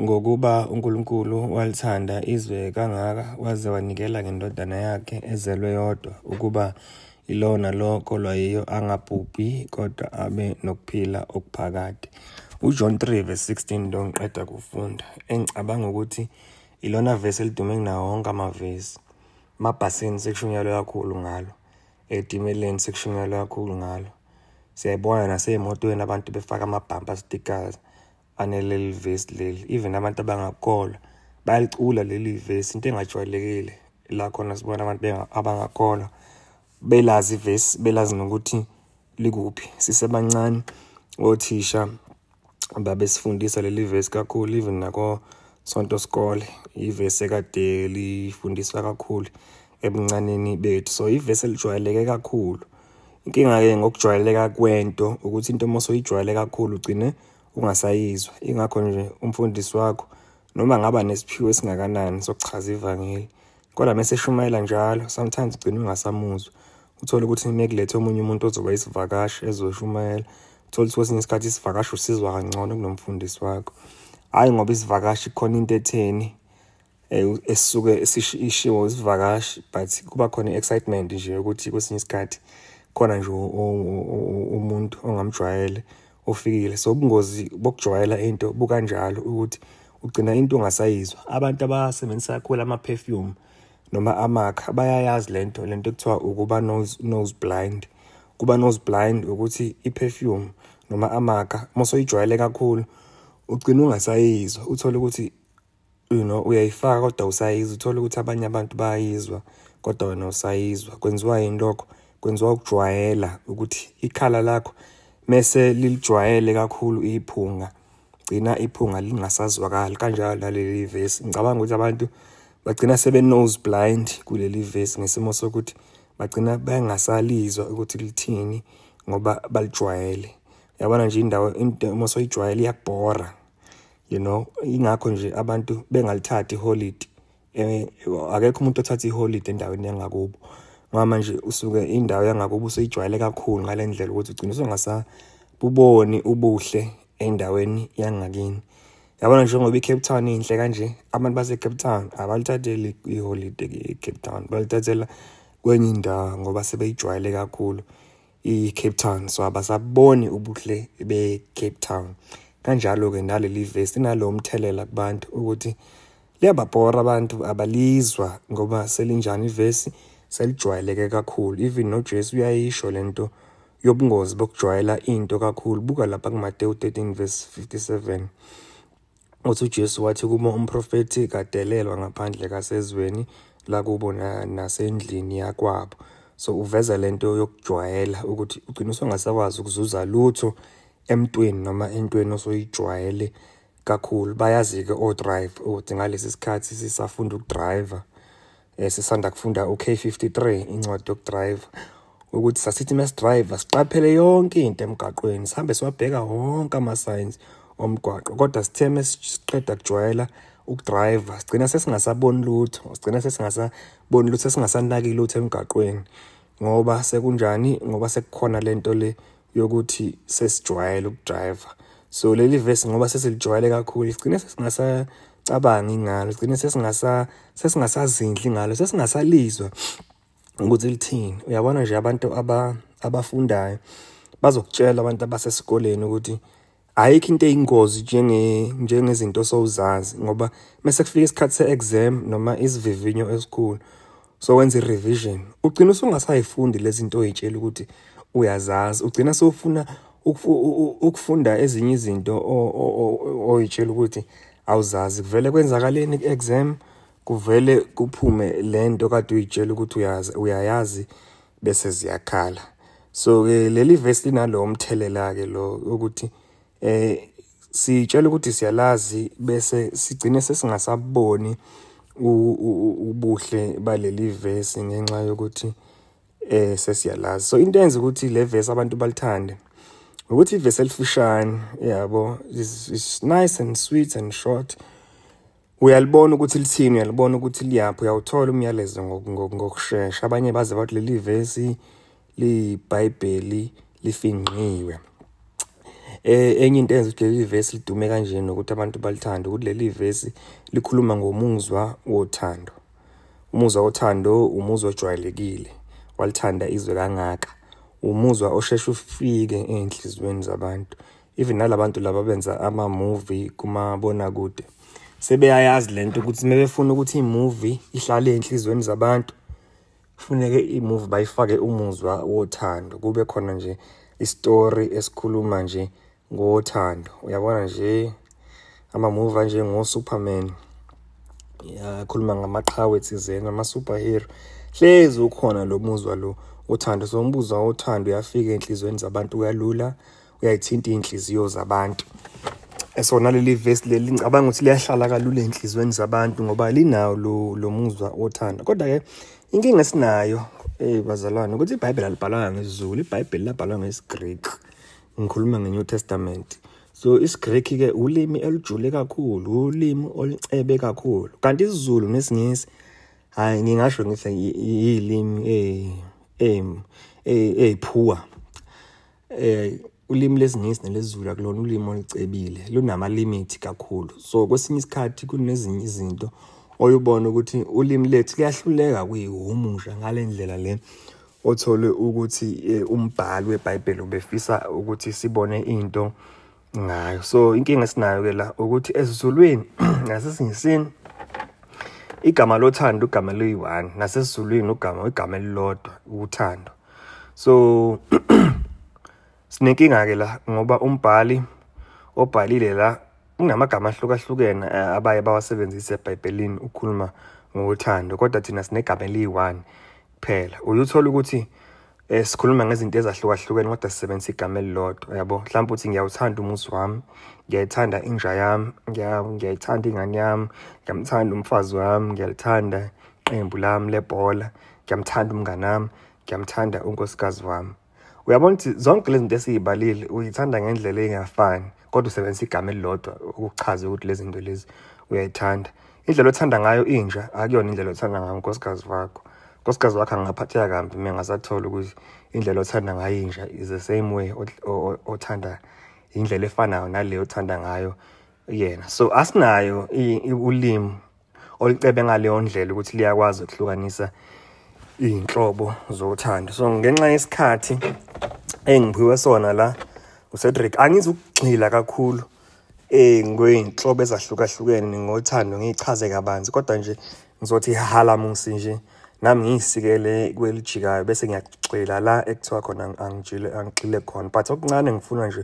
Ngokuba uNkulunkulu walithanda izwe kangaka waze wanikela ngendodana yakhe ezelwe yodwa ukuba ilowo nalowo kolwa yiyo angabhubhi kodwa abe nokuphila okuphakade. UJohn 3 verse 16 nto ngiqeda kufunda engicabanga ukuthi ilona vesi elidume kunawo wonke amavesi. Mabhasini sekushunyelwe kakhulu ngalo. Etimeleni sekushunyelwe kakhulu ngalo. siyayibona nasey'motweni abantu befaka amabhampa stickers aneleli vesi leli even abantu abangakholwa bayalicula leli vesi into engajwayelekile la khona sibona abantu abangakholwa belazi ivesi belazi nokuthi likuphi sisebancane othisha babesifundisa leli vesi kakhulu even nako sonto sikole ivesi ekade lifundiswa kakhulu ebuncaneni bethu so ivesi elijwayeleke kakhulu inkinga-ke ngokujwayeleka kwento ukuthi into uma soyijwayele kakhulu ugcine ungasayizwa ingakho nje umfundisi wakho noma ngaba nesiphiwo esingakanani sokuchaza ivangeli Kodwa mese eshumayela njalo, sometimes ugcina ungasamuzwa. Uthole ukuthi mekulethe omunye umuntu ozoba isivakashi ezoshumayela. Uthole ukuthi kwesinye isikhathi isivakashi usizwa kangcono kunomfundisi wakho. Hayi ngoba isivakashi khona into etheni eh, esisuke ishiwo isivakashi but kuba khona excitement nje ukuthi kwesinye isikhathi khona nje umuntu ongamjwayele ofikile so ubungozi bokujwayela into bukanjalo ukuthi ugcina into ongasayizwa abantu abasebenzisa kakhulu ama-perfume noma amakha bayayazi le nto le nto kuthiwa ukuba nose, nose blind kuba nose blind ukuthi i-perfume noma amakha uma soyijwayele kakhulu ugcina ungasayizwa uthole ukuthi you know uyayifaka kodwa usayizwa uthole ukuthi abanye abantu bayayizwa kodwa wena usayizwa kwenziwa yini lokho kwenziwa ukujwayela ukuthi ikhala lakho mese lilijwayele kakhulu iphunga gcina iphunga lingasazwakali kanjalo naleli vesi ngicabanga ukuthi abantu bagcina sebe nose blind kuleli vesi ngesimo sokuthi bagcina bengasalizwa ukuthi lithini ngoba balijwayele yabona nje indawo into uma soyijwayele iyabhora you know ingakho nje abantu bengalithathi iholidi eh, akekho umuntu othatha iholidi endaweni yangakubo ngoba manje usuke indawo yangakubo usuyijwayele kakhulu ngale ndlela ukuthi ugcina usungasabuboni ubuhle endaweni yangakini yabona njengoba i-cape town inhle kanje abantu base-cape town abalithatheli iholide ke e-cape town balithathela kwenye indawo ngoba sebeyijwayele kakhulu iCape Town so abasaboni ubuhle beCape Town kanjalo ke naleli vesi nalo umthelela kubantu ukuthi liyababhora abantu abalizwa ngoba selinjani ivesi selijwayeleke kakhulu even noJesu uyayisho lento yobungozi bokujwayela into kakhulu buka lapha kuMateyu 13 verse 57 Uthi uJesu wathi kuma umprofethi kadelelwa ngaphandle kasezweni lakubo nasendlini yakwabo. So uveza lento yokujwayela ukuthi ugcina usungasakwazi ukuzuza lutho emntwini noma entweni osoyijwayele kakhulu. Bayazi-ke o-drive ukuthi ngalesi sikhathi sisafunda ukudriver Eh, sisanda kufunda u-K53 incwadi yokudrive ukuthi sasithi mesidrive siqaphele yonke into emgaqweni sihambe siwabheka wonke ama-signs omgwaqo kodwa sithe mesiqeda kujwayela ukudrive sigcina sesingasaboni lutho sigcina sesingasaboni lutho sesingasanaki lutho emgaqweni ngoba sekunjani ngoba sekukhona lento le yokuthi sesijwayele ukudriver so leli vesi ngoba sesilijwayele kakhulu sigcine sesingasacabangi ngalo sigcine sesingasazindli ngalo sesingazalizwa ukuthi lithini uyabona nje abantu abafundayo bazokutshela abantu abasesikoleni ukuthi ayikho into eyingozi njenge njengezinto sowuzazi ngoba mase kufika isikhathi se-exam noma isivivinyo esikhulu so wenza i-revision ugcina usungasayifundi lezi zinto oyitshela ukuthi uyazazi ugcina sewufuna ukufunda ezinye izinto oyitshela ukuthi awuzazi kuvele kwenzakaleni ku-exam kuvele kuphume le nto kade uyitshela ukuthi uyazi uyayazi bese ziyakhala so ke leli verse linalowo mthelela ke lo ukuthi eh sitshela ukuthi siyalazi bese sigcine sesingasaboni ubuhle baleli verse ngenxa yokuthi eh sesiyalazi so into enza ukuthi le verse abantu balithande ukuthi ivesi elifushane yabo is nice and sweet and short uyalibona ukuthi lithini uyalibona ukuthi liyaphi uyawuthola umyalezo ngokushesha abanye baze bathi leli vesi liyibhayibheli lifingqiwe eh, enye into enza ukuthi leli vesi lidume kanje nokuthi abantu balithanda ukuthi leli vesi likhuluma ngomuzwa wothando umuzwa wothando umuzwa ojwayelekile walithanda izwe kangaka umuzwa osheshe ufike enhlizweni zabantu even nalabantu laba benza ama movie kuma bona kude sebeyayazi lento ukuthi mebefuna ukuthi imovie ihlale enhlizweni zabantu kufuneke imovie bayifake umuzwa wothando kube khona nje istory esikhuluma nje ngothando uyabona nje ama movie anje ngo Superman yakhuluma ngamaqhawe thizeni ama superhero hlezi ukhona lo muzwa lo uthando so umbuzo wothando uyafika enhlizweni zabantu kalula uyayithinta iy'nhliziyo zabantu esona leli vesi leli ngicabanga ukuthi liyahlala kalula ey'nhliziyweni zabantu ngoba linawo lo muzwa othanda kodwa-ke inkinga esinayo eyi bazalwane ukuthi ibhayibheli alibhalanga ngesizulu ibhayibheli labhalwa ngesigriki ngikhuluma nge-new testament so isigriki-ke ulimi elujule kakhulu ulimi olucebe kakhulu kanti isizulu nesingisi hhayi ngingasho ngithi yilimi ey'phuwa eh, eh, eh, eh ulimi lesingisi nelesizulu akulona ulimi olicebile lunama limit kakhulu so kwesinye isikhathi kunezinye izinto oyubona ukuthi ulimi lethu liyahluleka kuyihumusha ngalendlela le othole ukuthi eh, umbhali weBhayibheli ubefisa ukuthi sibone into ngayo so inkinga esinayo ke la ukuthi esizulwini nasesiNgisini igama lothando igama eliyi-one nasesizulwini ugama igama elilodwa uthando so sinenkinga-ke la ngoba umbhali obhalile la unamagama ahlukahlukene eh, abaye bawasebenzise ebhayibhelini ukukhuluma ngothando kodwa thina sinegama eliyi-one kuphela uyuthola ukuthi Eh sikhuluma ngezinto ezahlukahlukene kodwa sisebenzisa igama elilodwa yabo mhlawumbe uthi ngiyawuthanda umuzi wami ngiyayithanda inja yami ngiyayithanda ingane yami ngiyamthanda umfazi wami ngiyalithanda iqembu lami lebhola ngiyamthanda umngane wami ngiyamthanda unkosikazi wami uyabona ukuthi zonke lezi zinto esiyibalile uyithanda ngendlela engafani kodwa usebenzisa igama elilodwa ukuchaza ukuthi lezi zinto lezi uyayithanda indlela othanda ngayo inja akuyona indlela othanda ngayo unkosikazi wakho unkosikazi wakho angaphatheka kambi mina ngasathola ukuthi indlela othanda ngayo inja is the same way othanda indlela efanayo naleyo othanda ngayo yena so asinayo ulimi olicebe ngaleyo ndlela ukuthi liyakwazi ukuhlukanisa iy'nhlobo zothando so ngenxa yesikhathi engiphiwe sona la ucedric angizukugxila kakhulu um ngey'nhlobo ezahlukahlukene ngothando ngiyichaze kabanzi kodwa nje ngizothi halamusi nje nami ngiyisikele kwelijikayo bese ngiyagxila la ekuthiwa khona angigxile khona but okuncane ngifuna nje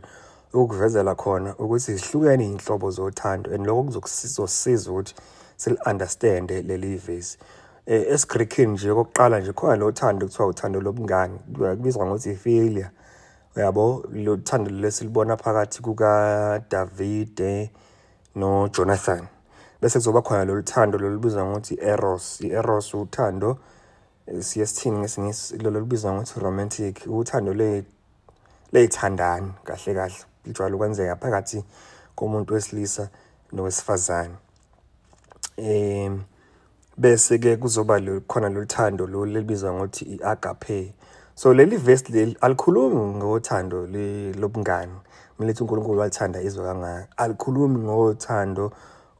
ukuvezela khona ukuthi zihlukene inhlobo zothando and lokho kuzosiza ukuthi sili-understande leli vesi um eh, esigreekini nje okokuqala nje khona lo thando kuthiwa uthando lobungani kubizwa ngokuthi ifilia uyabo lo thando lesilibona phakathi kukadavide nojonathan bese kuzoba khona lolu thando lolubizwa ngokuthi eros i-eros uthando eh, siye sithini ngesingisi lolubizwa ngokuthi romantic uthando leyithandani kahle kahle lijwayele ukwenzeka phakathi komuntu wesilisa nowesifazane um bese-ke kuzoba khona lolu thando lolu elibizwa ngokuthi i-agape so leli vesi leli alikhulumi ngothando lobungani kumele ukuthi unkulunkulu walithanda izwe kangaka alikhulumi ngothando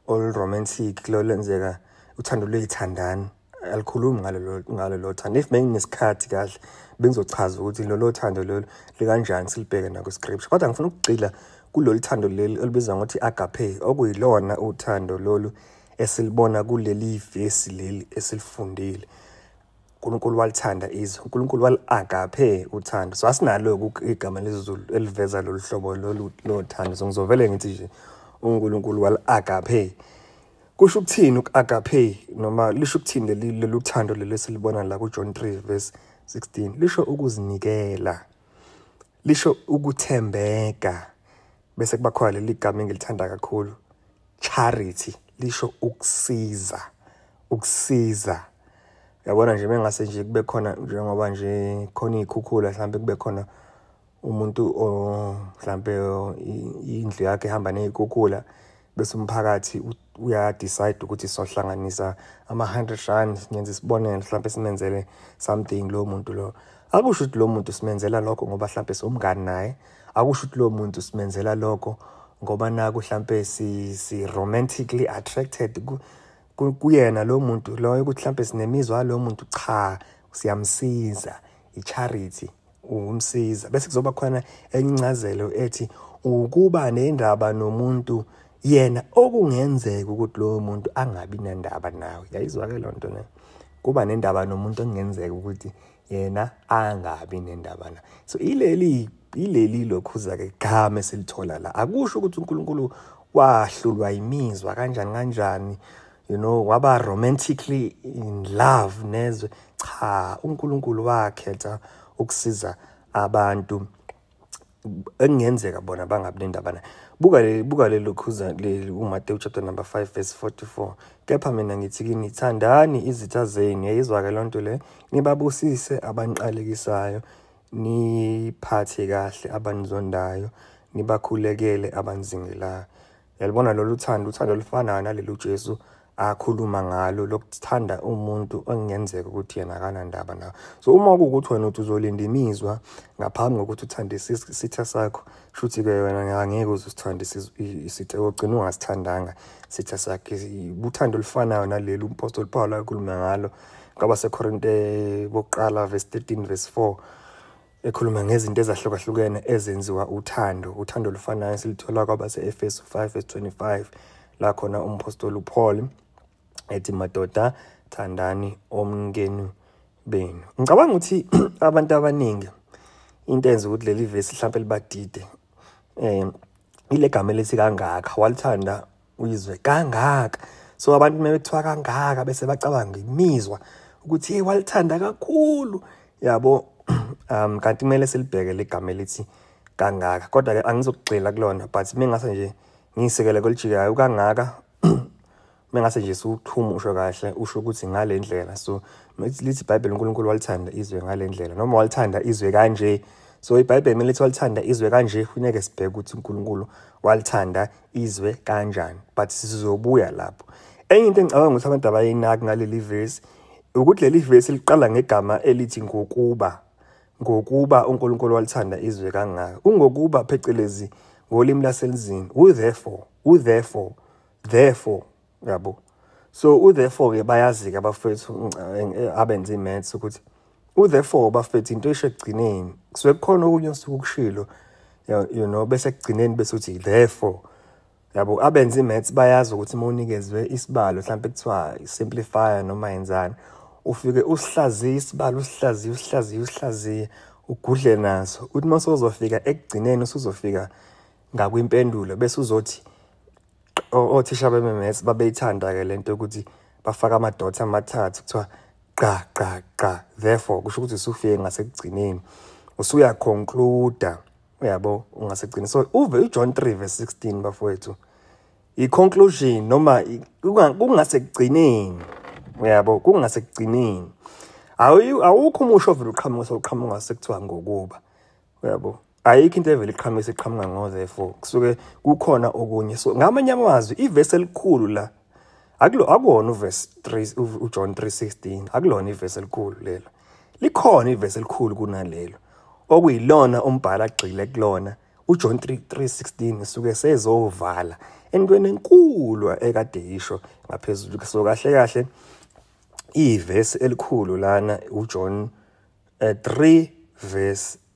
oluromantic lolenzeka uthando luyithandani alikhulumi ngalelo ngalelo thando if benginesikhathi kahle bengizochaza ukuthi lolo thando lelo likanjani silibheke nako scripture kodwa ngifuna ukugcila kulolu thando leli olubizwa ngokuthi agape okuyilona uthando lolu esilibona kuleli vesi leli esilifundile uNkulunkulu walithanda izwe uNkulunkulu wali-agape uthando so asinalo igama lezulu eliveza lolu hlobo lolu lothando so ngizovele ngithi nje uNkulunkulu wali-agape Kusho ukuthini uku-agape noma lisho ukuthini leli lolu thando leli esilibona la kuJohn 3 verse 16? Lisho ukuzinikela. Lisho ukuthembeka. Bese kuba khona leli gama engilithanda kakhulu, charity. Lisho ukusiza. Ukusiza. Yabona nje mengase nje kube khona njengoba nje khona iy'khukhula mhlampe kube khona umuntu mhlampe indlu yakhe ehamba ney'khukhula bese umphakathi uyadecide ukuthi sohlanganisa ama-hundred rand ngenza isibonelo mhlawumpe simenzele something lowo muntu lo akusho ukuthi lowo muntu simenzela lokho ngoba mhlawumpe siwumngani naye akusho ukuthi lowo muntu simenzela lokho ngoba naku mhlawumpe si-romantically attracted kuyena lowo muntu loyo ukuthi mhlawumpe sinemizwa lowo muntu cha siyamsiza i-charity ukumsiza bese kuzoba khona enye incazelo ethi ukuba nendaba nomuntu yena okungenzeka ukuthi lowo muntu angabi nendaba nawe yayizwa ke lonto ne kuba nendaba nomuntu okungenzeka ukuthi yena angabi nendaba na so ileli ileli lokhuza ke game silithola la akusho ukuthi uNkulunkulu wahlulwa imizwa kanjani kanjani you know waba romantically in love nezwe cha uNkulunkulu wakhetha ukusiza abantu engenzeka bona bangabi nendaba naye buka leli buka leli khuza leli uMateyu chapter number 5 verse 44 kepha mina ngithi kini thandani izitha zenu yayizwake lonto le nibabusise abanqalekisayo niphathe kahle abanizondayo nibakhulekele abanzingelayo yalibona lolu thando uthando olufanayo naleli ujesu akhuluma ngalo lokuthanda umuntu okungenzeka ukuthi yena akanandaba nawo so uma kuwukuthi wena uthi uzolinda imizwa ngaphambi kokuthi uthande isitha sakho shuthi-ke wena angeke uze usithande isitha ogcina ungasithandanga isitha sakhe uthando olufanayo naleli umpostoli pawulo akhulume ngalo kwaba sekorinte bokuqala verse 13 verse 4 ekhuluma ngezinto ezahlukahlukene ezenziwa uthando uthando olufanayo silithola kwabase-efesu 5 verse 25 la khona umphostoli upaul ethi madoda thandani omnkenu benu ngicabanga ukuthi abantu abaningi into enza ukuthi leli vesi mhlawumpe libadide um ile gama elithi kangaka walithanda uyizwe kangaka so abantu uma bethiwa kangaka bese bacabanga imizwa ukuthi hey walithanda kakhulu yabo um kanti kumele silibheke ligama elithi kangaka kodwa ke angizokugxila kulona but mengase nje ngiyisekele kolijikayo kangaka mengase nje siwuthuma usho kahle usho ukuthi ngale ndlela so lithi ibhayibheli unkulunkulu walithanda izwe ngale ndlela noma walithanda izwe kanje so ibhayibheli kumele lithi walithanda izwe kanje funeke sibheke ukuthi unkulunkulu walithanda izwe kanjani but sizobuya lapho enye into engicabanga ukuthi abantu abayinaki ngaleli verse ukuthi leli verse liqala ngegama elithi ngokuba ngokuba uNkulunkulu walithanda izwe kangaka ungokuba phecelezi ngolimi laselizini u therefore u therefore therefore yabo so u therefore ke bayazika abafethu eh, abenze imaths ukuthi u therefore bafethu into isho ekugcineni kusuke kukhona okunye osuke ukushilo you know bese ekugcineni bese uthi therefore yabo abenze imaths bayazi ukuthi uma unikezwe isibalo mhlawumbe kuthiwa simplifier noma yenzani ufike usihlaziye isibalo usihlaziye usihlaziye usihlaziye ugudle naso uthi uma sozofika ekugcineni usuzofika ngakwimpendulo bese uzothi othisha beMMS babeyithanda-ke le nto yokuthi bafake amadotha amathathu kuthiwa gqa gqa gqa therefore kusho ukuthi usufike ngasekugcineni usuyaconcluda uyabo ungasekugcini so uve ujohn 3 verse 16 bafowethu i-conclusion noma kungasekugcineni uyabo kungasekugcineni awukho umusho ovele uqhamuka sewuqhamuka sekuthiwa ngokuba uyabo ayikho into evele iqhamise iqhamuka ngo therefore kusuke kukhona okunye so ngamanye amazwi ivesi elikhulu la akulo akuwona uverse 3 uJohn 3:16 akulona ivesi elikhulu lelo likhona ivesi elikhulu kunalelo okuyilona umbhala agxile kulona uJohn 3:16 usuke sezovala entweni enkulu ekade yisho ngaphezulu so kahle kahle ivesi elikhulu lana uJohn 3 eh, verse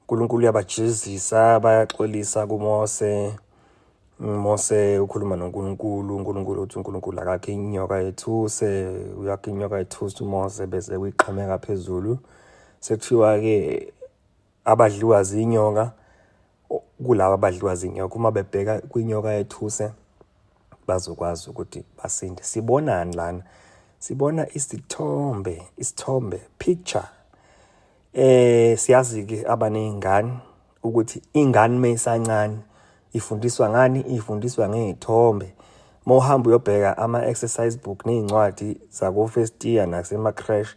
uNkulunkulu uyabajezisa bayaxolisa kuMose Mose ukhuluma noNkulunkulu uNkulunkulu uthi uNkulunkulu akakhe inyoka yethuse uyakhe inyoka yethuse uMose bese kuyiqhameka phezulu sekuthiwa ke abadliwa zinyoka kulabo abadliwa zinyoka uma bebheka kwinyoka yethuse bazokwazi ukuthi basinde sibonani lana sibona isithombe isithombe picture Eh siyazi ke abanezingane ukuthi ingane meyisancane ifundiswa ngani ifundiswa ngezithombe mawuhamba uyobheka ama exercise book nezincwadi zako first year nasema crash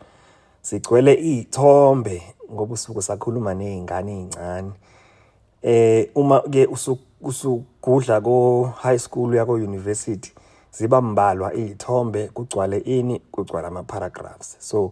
sigcwele izithombe ngoba usuku sakhuluma nezingane ezincane eh uma ke usugudla ko high school yako university ziba mbalwa izithombe kugcwale ini kugcwala ama paragraphs so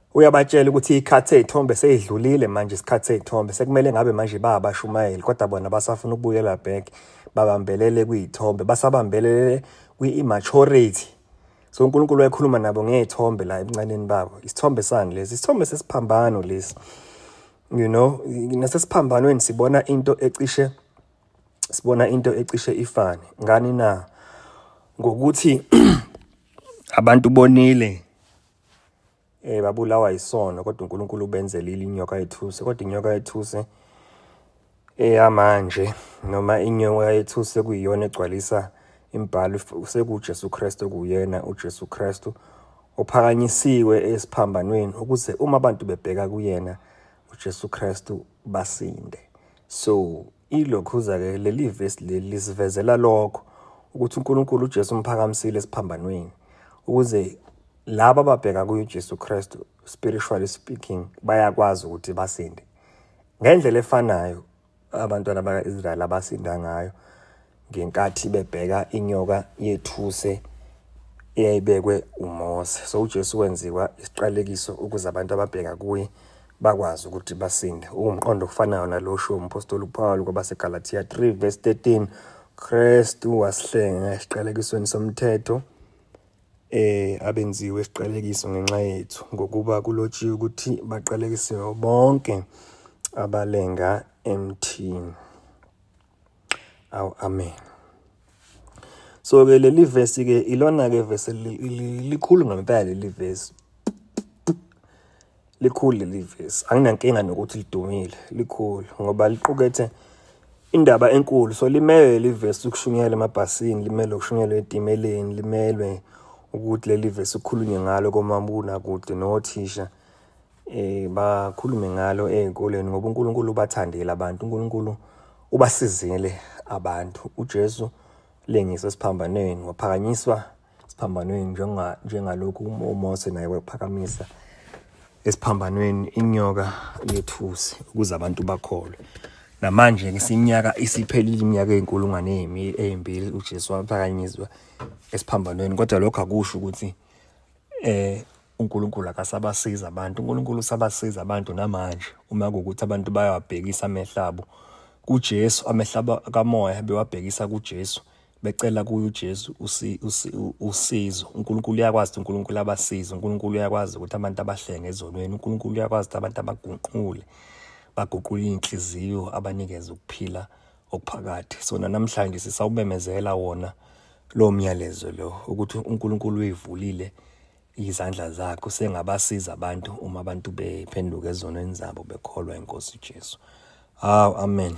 uyabatshela ukuthi ikhathi seyithombe seyidlulile manje isikhathi seyithombe sekumele ngabe manje bayabashumayeli kodwa bona basafuna ukubuyela back babambelele kuyithombe basabambelele kwi-immaturity so unkulunkulu wayekhuluma nabo ngey'thombe la ebuncaneni babo isithombe sani lesi isithombe sesiphambano lesi you know nasesiphambanweni sibona into ecishe sibona into ecishe ifane ngani na ngokuthi abantu bonile eh babulawa isono kodwa uNkulunkulu ubenzelile inyoka yethuse kodwa inyoka yethuse eyamanje noma inyoka yethuse kuyiyona egcwalisa imbhalo sekuJesu Kristu kuyena uJesu Kristu ophakanyisiwe esiphambanweni ukuze uma abantu bebheka kuyena uJesu Kristu basinde so Ilokhuza-ke leli vesi leli lisivezela lokho ukuthi uNkulunkulu uJesu umphakamisile esiphambanweni ukuze laba ababheka kuyo uJesu Kristu spiritually speaking bayakwazi ukuthi basinde ngendlela efanayo abantwana baka-Israyeli abasinda ngayo ngenkathi bebheka inyoka yethuse eyayibekwe uMose so uJesu wenziwa isiqalekiso ukuze abantu ababheka kuye bakwazi ukuthi basinde uwumqondo ofanayo nalosho umpostoli uPawulu kwabaseGalatia 3 verse 13 Kristu wasihlenga esiqalekisweni somthetho eh abenziwe isiqalekiso ngenxa yethu ngokuba kulotshiwe ukuthi baqalekisiwe bonke abalenga emthini awu amen so ke leli verse ke ilona ke verse likhulu ngempela leli verse likhulu leli verse anginankinga nokuthi lidumile likhulu ngoba liqukethe indaba enkulu so limele leli verse ukushunyela emabhasini limele ukushunyelwa etimeleni limelwe ukuthi leli verse ukhulunywe ngalo komabuna kude nothisha eh bakhulume ngalo ezikoleni ngoba uNkulunkulu ubathandile abantu uNkulunkulu ubasizile abantu uJesu lengise siphambanweni waphakanyiswa siphambanweni njenga njengalokhu uMose naye wephakamisa esiphambanweni inyoka yethusi ukuze abantu bakholwe namanje ke sinyaka isiphelile iminyaka ezinkulungwane ezimbili uJesu waphakanyiswa esiphambanweni kodwa lokho akusho ukuthi eh uNkulunkulu akasabasiza abantu uNkulunkulu usabasiza abantu namanje uma kukuthi abantu bayawabhekisa amehlabo kuJesu amehlaba kamoya bewabhekisa kuJesu becela kuye uJesu usizo uNkulunkulu uyakwazi uNkulunkulu abasiza uNkulunkulu uyakwazi ukuthi abantu abahlenge ezonweni uNkulunkulu uyakwazi ukuthi abantu abagunqule baguqule inhliziyo abanikeze ukuphila okuphakathi sona namhlanje sisawumemezela wona lo myalezo lo ukuthi uNkulunkulu uyivulile izandla zakhe usengabasiza abantu uma abantu bephenduka ezonweni zabo bekholwa inkosi Jesu. Hawu amen.